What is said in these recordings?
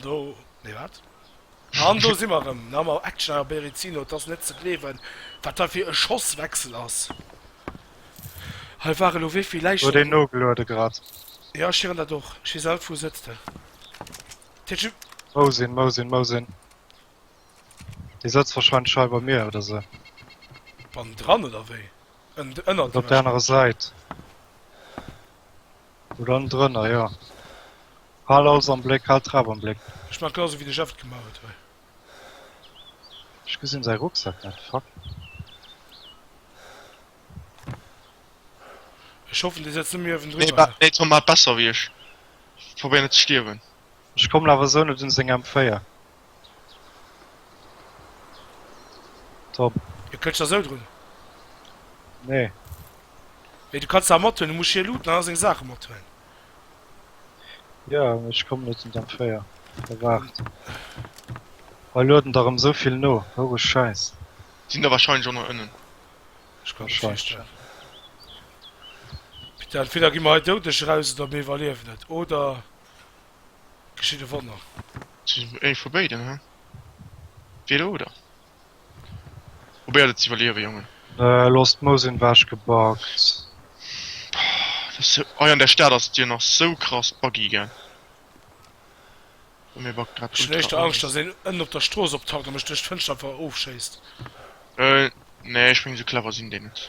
Do, nee wat? An do si mer erëm, na mam Action a Berezino, et ass net ze gleewen, wat da fir e Schosswechsel ass. Hei ware elo wéi vill Läichen. Huet een nogeluede grad. Jo, ech hiren dat och. Gisèle, wou sëtzt de? Tju. Wou sinn, wou sinn, wou sinn? Dee sëtzt warscheinlech hei bei mir oder sou. Bannendran oder wéi? Ënnert iech? Op der anerer Säit. Oder en drënner jo. Haal alles am Bléck, haal d'Trap am Bléck. Ech maan genau sou wéi de Jeff et gemaach huet hei. Ech gesinn säi Rucksack net, fuck. Ech hoffen dee setzt net méi uewen driwwer. Nee Tom, maat besser wéi ech. Probéier net ze stierwen. Ech kommen awer esou net un seng M4. Tom. Hie kënnt scho esou drun. Nee. Mee du kanns se awer mat huelen. Du muss hie looten an all seng Saache mat huelen. Jo, mee ech kommen net un d'M4. Hei waart. Hei lueden der erëm esou vill no. Houre Schäiss. Sinn der warscheinlech och nach ënnen. Ech kann net feststellen. Peter, entweder gi mer hei doudeg eraus oder mir iwwerliewen et. Oder. Geschitt e Wonner. Ee vu béiden, he? Dee do, oder? Probéiert et ze iwwerliewen, Jongen. Elo ass d'Mous ewechgebackt. Hei an der Stad ass et jo nach sou krass buggy, gell? Bei mir buggt grad ultra. Ech hunn éischter Angscht, datt een ënnen op der Strooss optaucht a mech duerch d'Fënschter awer ofschéisst. Nee, ech mengen, sou clever sinn déi net.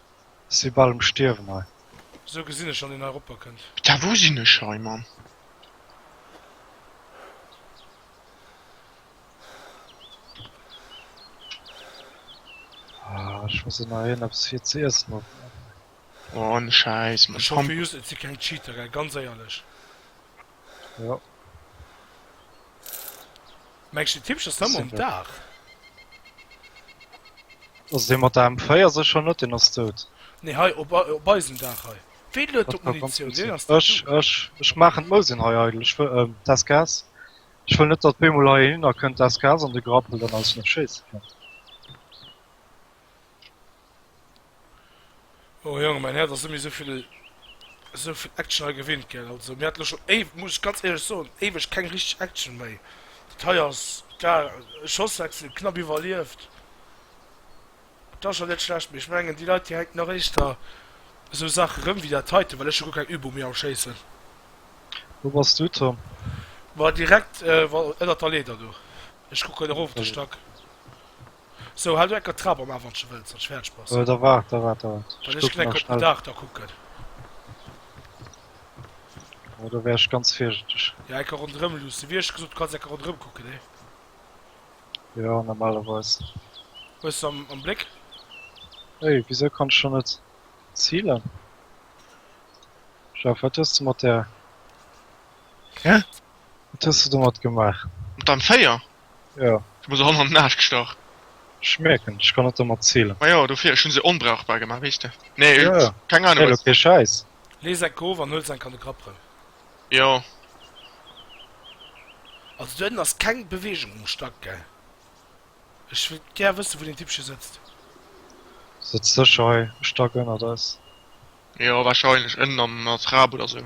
Si bal um Stierwen hei. Esou gesinn ech an deen hei ropper kënnt. Da wou sinn ech hei Mann? Ah ech muss ënner hien eppes fir ze iessen opmaachen. Oh ne Schäiss Mann. Ech hoffe just et si keng Cheater gell, ganz éierlech. Ja. Mengst den Tippcher Summer um Dach? Ass dee mat der M4 secher net, deen ass dout. Nee, hei op, op eisem Dach hei. Wee luet do d'Munitioun? Deen ass Ech, ech, ech maachen d'Mousin hei eidel. Ech wëll, ähm, d'SKS. Ech wëll net, datt bemol hei een hinnerkënnt, d'SKS an de Grappel dann aus net schéisse kënnt. Oh Jongen, mäin Häerz ass net méi esouvill, esouvill Action hei gewinnt, gell. Also mir hat elo schon éiw, muss ech ganz éierlech soen, éiweg keng richteg Action méi. Dat hei ass klar e Schosswechsel, knapp iwwerlieft. Dat ass schon net schlecht, mee ech mengen déi Leit déi hänken nach éischter esou Saache rëm wéi dat heiten, well ech hu guer keng Übung méi am Schéissen. Wou bass du Tom? Bah direkt ënnert der Leeder do, ech kucken erof op de Stack. So, halt ecker Trap am Aaf, wann s de wëlls, datt ech fäerdeg bass. Da waart, da waart, da waart. Well ech ginn ecker op den Daach da kucken. Oh, do wär ech ganz virsichteg. Ja, ecker ronderëm luussen. Wéi ech gesot, du kanns ecker ronderëm kucken, nee? Ja, normalerweis. Hues de am, am Bléck? Ey, wisou kann ech dann net zilen? Jeff, wat hues de mat där. Hä? Wat hues de domat gemaach? Mat der M4? Ja. Du muss erëm an den Aasch gestach. Ech mierken, ech kann et der mat zielen. Ma jo, dofir, ech hun se onbrauchbar gemaach, weess de. Nee, jo, jo, keng Ahnung, wat. Elo kee Schäiss. Lees enk of an huels enk an de Grapp rem. Jo. Also do hënnen ass keng Bewegung um Stack, gell? Ech wëllt gär wëssen, wou deen Typ scho sëtzt. Sëtzt sécher hei e Stack ënnert eis. Jo, wahrscheinlech ënnen an der Trap oder sou.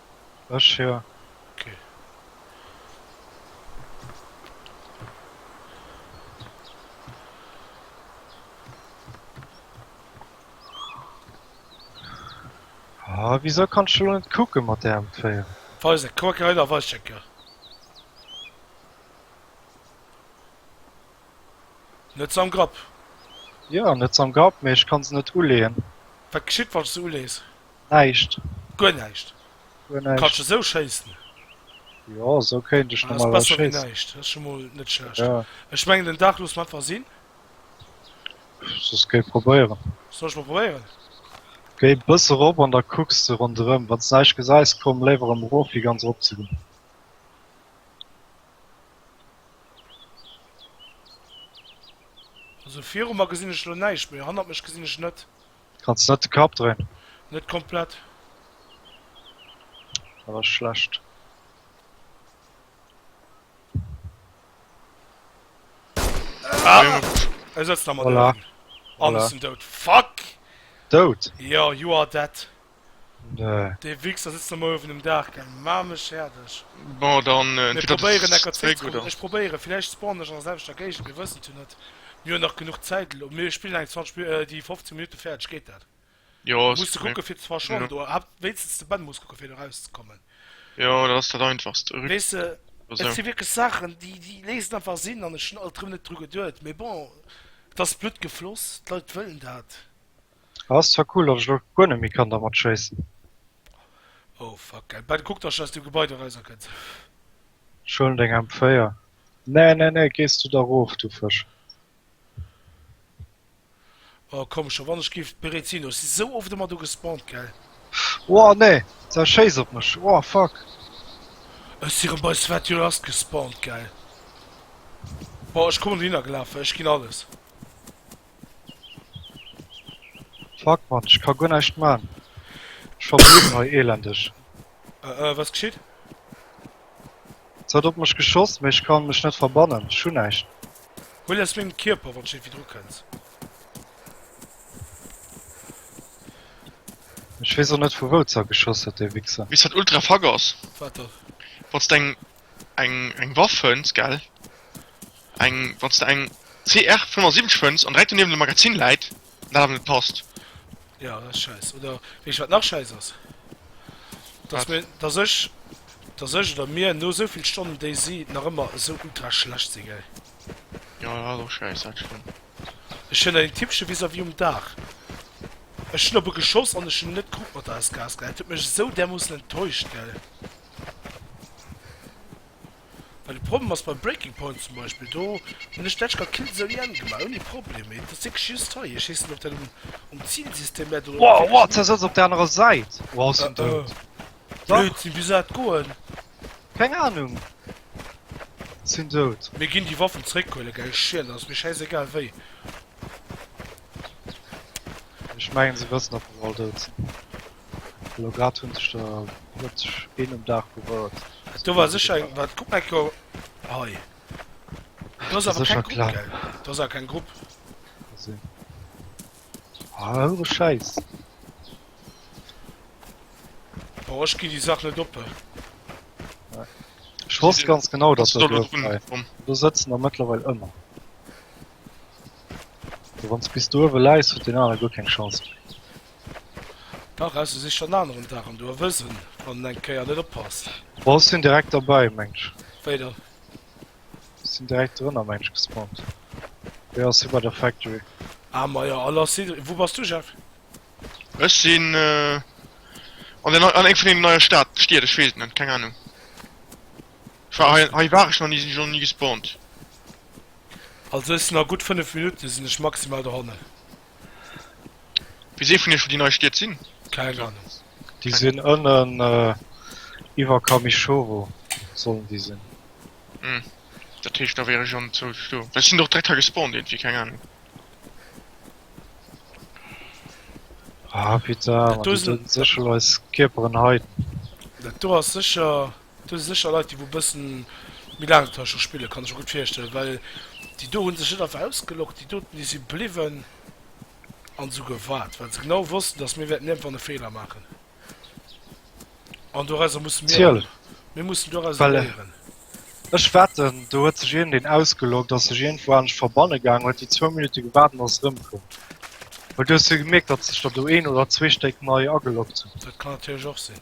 Ech jo. Ok. Ah, wieso kannst du net kucken mat der M4? Weis net, kuck hei da weischecker. Net am Grapp? Jo, net am Grapp, mee ech kann se net uleeën. Wat geschitt wann s se ulees? Näischt. Guer näischt? Guer näischt. Kanns de sou schéissen? Jo, sou kéint ech normalerweis schéissen. Dat ass besser wéi näischt. Dat ass scho mol net schlecht. Jo. Ech mengen den Dag loosse mer einfach sinn. Soss géi probéieren. Soll ech mol probéieren? Géi e bësse rop an da kucks de ronderëm. Wann s de näischt gesäis, komm léiwer erëm erof wéi ganz erop ze goen. Also viru mer gesinn ech elo näischt, mee hannert mech gesinn ech net. Kanns net de Kapp dréin? Net komplett. Dat ass schlecht. Ah, er setzt nach mal voilà. Alles voilà. dout. Fuck! Dout? Ja, you are dead. Nee. Dee Wichser sëtzt ëmmer uewen um Daach, gell? Maa mech fäerdeg. Bon, dann Mir entweder du probéieren sëtzt necker zréck, zréckzerullen. oder? Ech probéieren, villäicht spawnen ech an der selwechter Géigend, mir wëssen et jo net. Mir hunn nach genuch Zäit elo, mir spillen eng 20 Min-, äh, déi 15 Minutte fäerdeg, geet dat? Jo, ass Muss de Problem. kucke fir zwar schonn Ja. do, hab wéinstens de Ben muss kucke fir do erauszekommen. Jo, dat ass dat Einfachst. Rück Weess de, oder et sou. si wierklech Saachen, déi, déi léisen einfach Sinn an ech hunn alt erëm net dru geduet, mee bon, et ass Blutt gefloss, d'Leit wëllen dat. Ah ass zwar cool, datt ech lo guer net méi kann dermat schéissen. Oh fuck geil, Ben kuck dass du aus dem Gebai do rauser kënns. Ech huelen deng M 4. Nee nee nee gees du da roof du Fësch. Oh komm scho wann ech giff bereet sinn, ech si sou oft ëmmer do gespawnt geil. Woah nee, se schéiss op mech, woah fuck. Ech si rëm bei Svetulast gespawnt geil. Boah ech kommen dohinner gelafen, ech ginn alles. Fuck man, ech ka guer näischt maan, ech verblöden hei elendeg. Äh äh, was geschitt? Se huet op mech geschoss, mee ech kann mech net verbannen, ech hun näischt. Huel aus mengem Kierper, wann s iergwéi dru kënns. Ech weess och net vu wou, ze geschoss huet, dee Wichser. Weess wat ultra fuck ass? Wat dann? Wann s de eng eng eng Waff fënns gell eng wanns de eng CR 75 fënns an direkt donewen de Magazin läit an dat awer net passt. Ja dat ass scheiss oder wees wat nach scheiss ass dass Wat? mir dass ech dass ech oder mir no esou vill Stonnen DayZ nach ëmmer esou ultra schlecht si gell. Jo dat ass och scheiss dat stëmmt. Ech hunn en Typche vis-à-vis um Daach ech hunn op e geschoss an ech hunn net kuckt mat der SKS gell dat huet mech esou därmoossen enttäuscht gell. Well de Problem ass beim Breaking Point zum Beispill, do hunn ech d'Edge Guard Kill Zone IN gemaach ouni Problem, mee et ass wierklech just hei, ech weess net ob dat um um Zilsystem läit oder Wow, wow, ze ass op der anerer Säit. Wow, ass en dout. Blödsinn, wéi soll dat goen? Keng Ahnung. Sinn dout. Mir ginn déi Waffen zréckhuelen, gell? Schiel, ass mir schäisegal wéi. Ech mengen se wëssen, datt mer all dout sinn. Elo grad hunn sech der plëtzlech een um Daach berouert. Do war sécher eng. Wat kuck mal ko hei. Do ass awer keng Grupp, gell? Do ass awer keng Grupp. Gesinn. Ah, houre Schäiss. Boah, ech gi déi Sach net oppe. Ech wosst ganz genau, dass Kannst du dat da lo drun kommen? Do sëtzen der mëttlerweil ëmmer. Wann s bis do uewe läis, huet deen anere guer keng Chance méi. Dach aus sech schon aneren Dach an du erwësen wann den eng Kéier net oppasst. Bon ech sinn direkt derbäi mensch. Wéi dann? Ech sinn direkt drënner mensch gespawnt. Hei ass si bei der Factory. Ah ma jo, all ass si. Wou bass du Jeff? Ech sinn an der nei an eng vun deenen neie Stad Stied, ech weess et net, keng Ahnung. Ech war hei hei war ech nach ni, sinn ech och nach ni gespawnt. Also ech sinn a gutt 5 Minutte sinn ech maximal dohannen. Wees ee vun iech wou déi nei Stied sinn? Keng Ahnung. Déi sinn ënnen iwwer Kamichoro sollen déi sinn. Hm, dat heescht da wier ech an zou do. Well ech sinn och direkt hei gespawnt irgendwie, keng Ahnung. Ah putain, Dat do do sinn- sinn sécherweis Kierperen heiden. Dat do ass sécher Do si sécher Leit, déi wou e bësse méi laang dra scho spillen, kann ech mer gutt virstellen, well déi do hu sech net einfach ausgeloggt, déi doten, déi si bliwwen an esou gewaart, well se genau wossten, datt mir wäerten iergendwann e Feeler maachen an dorauser musse mir Natierlech. lernen. Mir mussen dorauser Well léieren. ech wetten, do huet sech een, deen ausgeloggt ass, sech iergendwou anescht verbanne gaangen, huet déi zwou Minutte gewaart an ass erëmkomm, well du hues jo gemierkt, datt sech der do een oder zwee Stéck nei ageloggt hunn. Dat kann natierlech och sinn.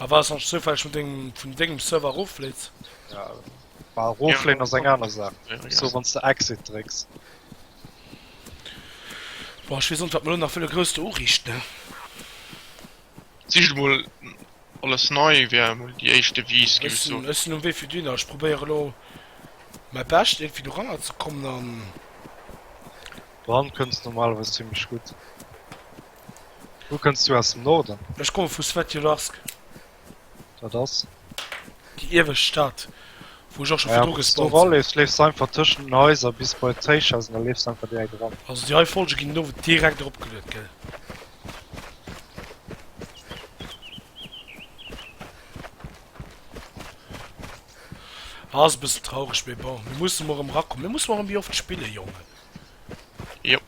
A wars hasch zoufälleg vun dengem vun dengem Server eroffleets? Ja. Bah eroffleen ass eng aner Saach. Sou wanns de Exit drécks. Boah ech wees o net wat mer lo nach wëlle grouss do urichten. Sicht mol alles nei wär mol déi éischt Devise ginn ech soen. Ech sinn um Wee fir dunner, ech probéiere lo mäi Bescht irgendwie doranner ze kommen an. Doran kënns normalerweis zimmlech gutt. Wou kënns du aus dem Norden? Ech komme vu Svetjodarsk. Dat ass? Déi iewescht Stad, wou ech och scho virdru gespawnt sinn. Wa s du eraleefs, leefs du einfach tëschent den Haiser bis bei d'Téischhaus an da leefs du einfach direkt eran. Also déi hei Folge ginn elo direkt eropgeluet, gell? Ass e bëssen traureg, mee bon. Mir musse mol erëm erakommen. Mir musse mol erëm Bierg of d'Spiller, Jongen. Jop.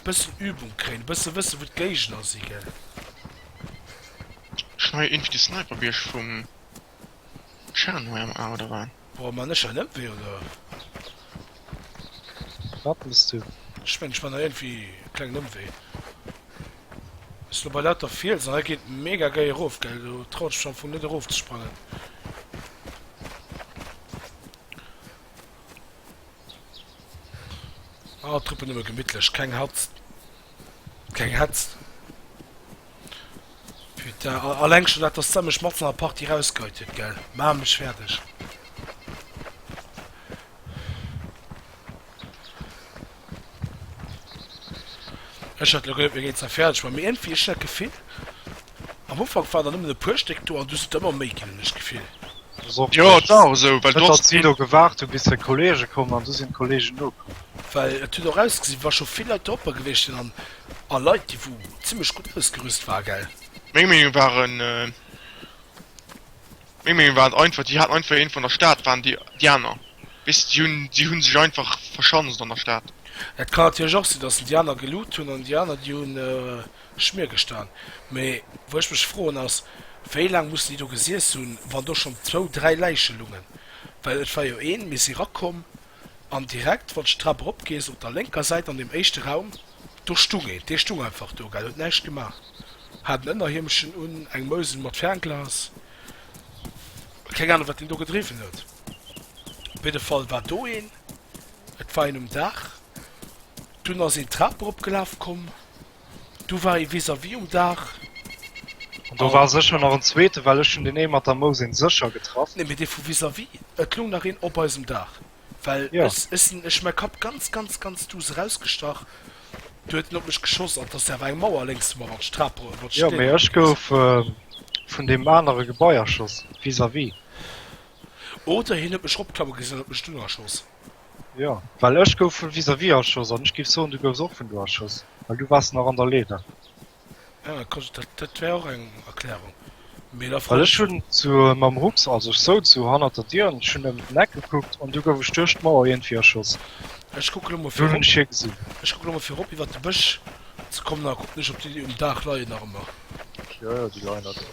Bëssen Übung kréien, bëssen wëssen wou d'Géigner si gell. Ech nei irgendwie de Sniperbierg vum Shanwei am A oder wat? Boah man ech an ëmwee oder? Wat mess du? Ech mengen ech man hei irgendwie e klengen Ëmwee. Ech lo bei lauter Fiels an hei geet mega gei erof gell do trauen ech mech am Fong net erof ze sprangen. Ah, Truppen ëmmer gemittlech, keng Hatz. Keng Hetz. Putain, alleng schon dat, dass der mech mat an der Partie rausgeheit huet, gell? Ma mech fertig. Ech hat lo geduet mir géint se fäerdeg man mee iergendwéi ech hunn dat Gefill am Ufank waren der nëmmen e puer Stéck do an du hues et ëmmer méi ginn hunn ech d'Gefill. Jo et war och sou well du hass vill do gewaart hu bis seng Kollege kommen an du sinn d'Kollegen nokomm. Well et huet och ausgesi wa scho vill Leit dropper gewiescht sinn an a Leit déi wou zimmlech gutt ausgerüst waren gell. Meng Meenung waren. Meng Meenung war einfach, déi haten einfach een vun der Stad, waren déi déi aner. Weess de, déi hunn déi hunn sech einfach verschanzt an der Stad. Et kann natierlech och sinn, datt se déi aner gelut hunn an déi aner déi hunn Schmier gestan. Mee wou ech mech froen ass, wéi laang mussen déi do gesiess hunn, wann do schonn zwou, dräi Läiche lungen? Well et war jo een, mir si rakomm an direkt, wann s de d'Trap erop gees, op der lénker Säit an deem éischte Raum, Do stung een, dee stung einfach do, gell, huet näischt gemaach, hat en Ënnerhiemchen un, eng Mousen mat Fernglas, keng Anung, wat deen do gedriwwen huet. Op jidde Fall war do een, et war een um Daach, dunn ass een d'Trap eropgelaf komm, du war ee vis-à-vis um Daach. An do war sécher nach en Zweete, well ech hunn deen ee mat der Mousen sécher getraff. Nee, mee dee vu vis-à-vis, et loung nach een op eisem Daach. Well ja. ech, ech sinn, ech mäi Kapp ganz, ganz, ganz duuss erausgestach, du huet en op mech geschoss an t'ass awer eng Mauer lénks vu mer, wat d'Strap, wat d'Stéi. Ja, mee ech gouf äh, vun deem anere Gebai erschoss, vis-à-vis. Oder hien huet mech eropklamme gesinn an huet mech dunn erschoss. Ja, well ech gouf vun vis-à-vis erschoss an ech géif soen, du goufs och vun do erschoss, well du waars nach an der Leeder. Well ech hunn zu mam Rucks, also ech souz sou hannert der Dier an ech hunn ëm den Eck gekuckt an du gouf ech duerch d'Mauer iergendwéi erschoss. Dunn hunn ech hie gesinn. Jo, jo, déi leien nach do.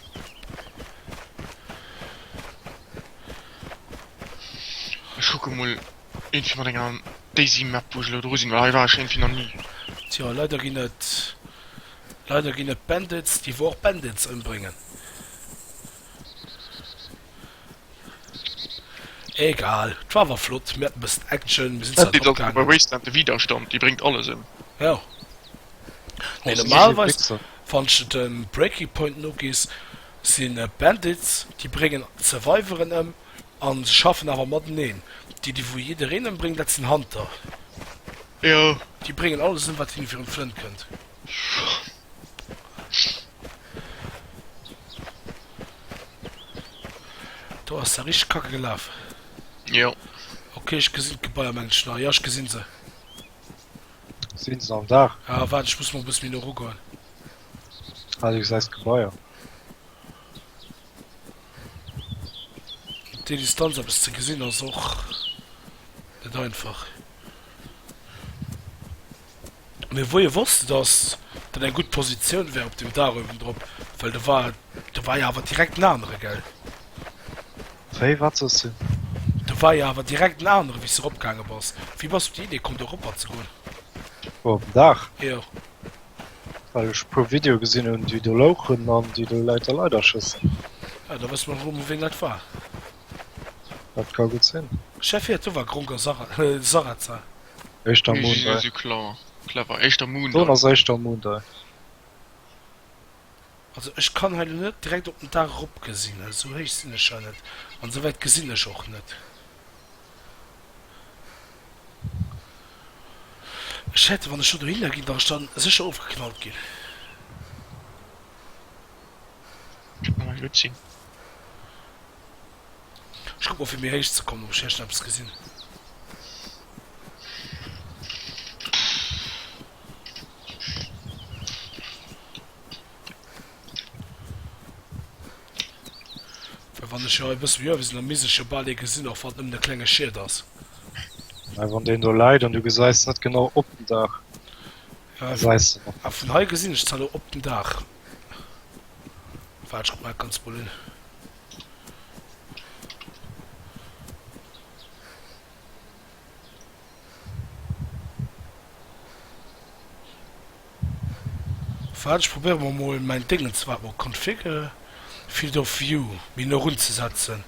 Ech kucke mol. Een fir mat enger Daisy Map wou ech elo dru sinn, well hei war ech iergendwéi nach ni. Tjo, leider ginn et leider ginn et Bandits déi wor Bandits ëmbréngen. Egal, 't war awer flott, mir haten bëssen Action, mir sinn zwar drop gaangen. Bei Wasteland de Widerstand, dee bréngt alles ëm. Jo, mee normalerweis wann ech et dem Breaking Point nogees, sinn et Bandits déi bréngen Surviveren ëm, A se schaffen awer mateneen. Déi, déi wou jiddereen ëmbréngt, dat sinn Hunter. Jo. Déi bréngen alles ëm, wat hinne virun d'Flënn kënnt. Do ass da richteg kacke gelaf. Jo. Ok, ech gesinn d'Gebaier, mengen ech nach. Jo, ech gesinn se. Sinn se am Daach? Ah, waart, ech muss mol e bësse méi no eru goen. Ah, du gesäis d'Gebaier. Op déi Distanz eppes ze gesinn ass och net einfach. Mee wou hie wosst, dass dat eng gutt Positioun wär op deem Daach uewendrop, well do war, do war jo awer direkt en anere, gell? Wéi, wat soss du? Do war jo awer direkt en anere wéi s de eropgaange bass. Wéi bass du op déi Idee komm, do eropper ze goen? Wou, op den Daach? Jo. Well ech e puer Video gesinn hunn déi do louchen an déi do Läit a Leider schëssen. Ah da wësse mer wou vu ween dat war. Dat ka gutt sinn. Chef hier, do war Gronk a Sara euh Sarazar. Éischter Moon Dei. Dann ass éischter Moon Dei. Also ech kann hei lo net direkt op den Daach eropgesinn, esou héich sinn ech jo net an esou wäit gesinn ech och net. Ech hätte, wann ech lo dohinner ginn, wär ech da sécher ofgeknallt ginn. Kéint nawell gutt sinn. Ech kuck mol fir méi héich ze kommen, ob ech hei schonn eppes gesinn. Well wann ech jo hei e bësse méi uewe sinn, da misst ech jo bal ee gesinn, och wann et nëmmen e klenge Schiet ass. Mä wann deen do läit an du gesäis net genau op den Daach, da säis de nach. A vun hei gesinn ech zwar elo op den Daach. Waart, ech kuck mer dat Ganzt mol un. Waart ech probéieren mer mol mäin Dingens waart mol config field of view méi no run ze setzen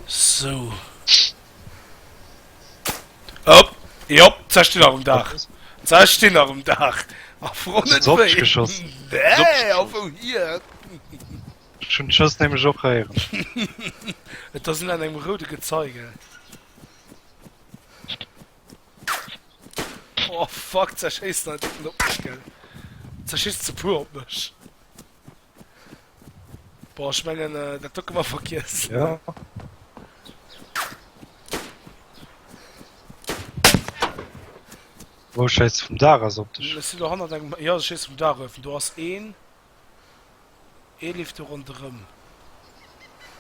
sou op jop se stinn nach um Daach se stinn nach um Daach a froen net wéi nee a wou hien. Ech hun just nämlech och héieren. Et ass un an engem roude Gezeige. Oh fuck, zerschéisst alt net op mech gell. Zerschisst ze puer op mech. Boah, ech mengen äh, dat do këmmer vergiess. Ja. Wo scheiss vum Dach ass op dech? Ech sinn do hannert engem, ja ech scheiss vum Dach erof, do ass een. Ee leeft do ronderëm.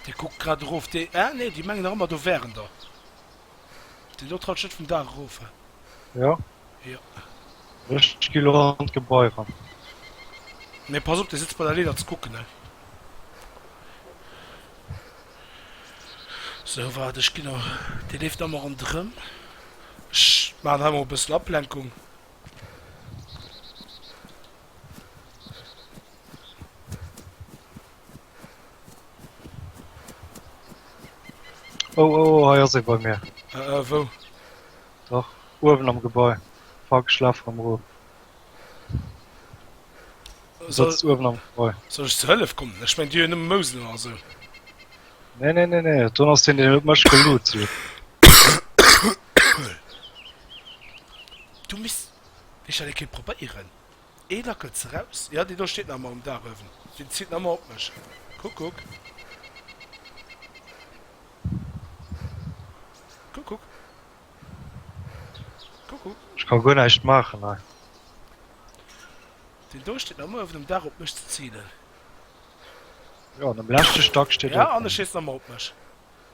Dee kuckt grad erof. Dee, ah nee, déi mengen nach ëmmer do wären der. Deen do traut sech net vum Daach erof. Jo. Jo. Ech gi lo an d'Gebai eran. Mee pass op, dee sëtzt bei der Leeder ze kucken, he. Sou, waart, ech ginn nach. Dee leeft nach ëmmer ronderëm. Ech maachen hei mol e bëssen Ablenkung. Oh, oh, oh, hei ass e bei mir. Äh, äh, wou? Dach, uewen am Gebäi. Fuck, schlaf am Ruh. Soll, Sitzt uewen am Gebäi. soll ich zu Hëllef kommen? Ich mein, die hun nëmme Mousel oder so. Nee, nee, nee, nee, dann ass den, den huet mech geloot. So. Du misst, Ech hat e keen probéieren. Ee lackelt se raus. Jo, dee do steet nach emmer um Daach uewen. Deen ziilt nach emmer op mech. Kuck, kuck. Kuck, kuck. Kuck, kuck. Ech kann guer näischt maachen hei. Deen do steet nach emmer uewen um Daach op mech ze ziilen. Jo, an um leschte Stack steet e. Jo, an e schéisst nach emmer op mech.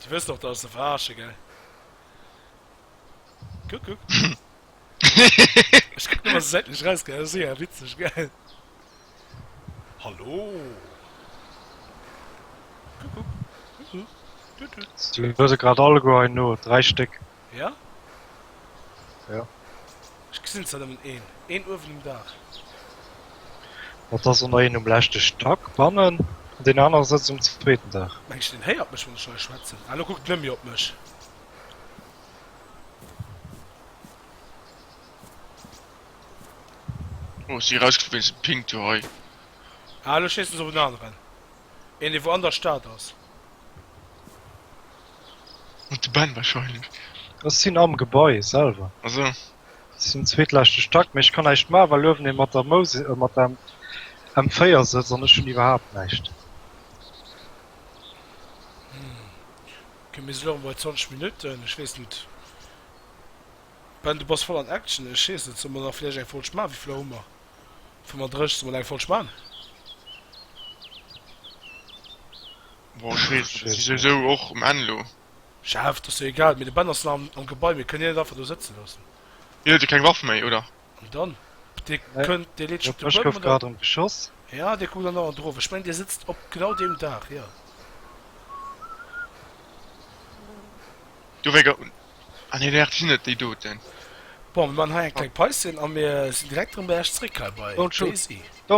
Du wësst och, dass se verarschen, gell? Kuck, kuck. Ech kuck nëmmer esou säitlech eraus, gell? Ass eher witzeg, gell? Hallo! Kuck, kuck. Kuck, kuck. Tut, tut. Si huele se grad alleguer hei no, dräi Stéck. Ja? Ja. Ech gesinn zwar nëmmen een. Een uewen um Daach. Dat ass ëmmer een um leschte Stack bannen an deen anere sëtzt um zweeten Daach. Mengs de, deen héiert mech, wann ech hei schwätzen? Ah, elo kuckt en net méi op mech. Oh, si erausgeflunn wéinst dem Ping-Toy. Ah, elo schéissen se op en aneren. Een dee wou an der Stad ass. Mat de Bänn wahrscheinlech. Ech sinn am Gebai selwer. Ah sou. Ech sinn um zweetleschte Stack, mee ech kann näischt maachen, well uewen ee mat der Mousi-, mat der M4 sëtzt an ech hunn iwwerhaapt näischt. Ok, mir sinn elo bei 20 Minutten. Ech weess net. Ben, du bass voll an Action. Ech weess net, solle mer nach vläicht eng Folg maachen? Wéi vill Auer hu mer? Vu mer dréchs de mol eng voll Span. Boah, ech weess net, ech si souwisou och um Enn elo. Chef, 't ass jo egal, mee de Ben ass nach am Gebai, mir kënnen hien net einfach do sëtze loossen. Hien huet jo keng Waff méi, oder? An dann? Dee kënnt, dee leet sech op de Buedem an dann. Ja, dee kuckt dann nach an d'Ruf. Ech mengen, dee sëtzt op genau deem Daach, jo. Do wéi An hien héiert si net, déi doten. Bon, mir maachen hei eng kleng Päuschen a mir sinn direkt erëm bei Iech zréck hei bei Daisy.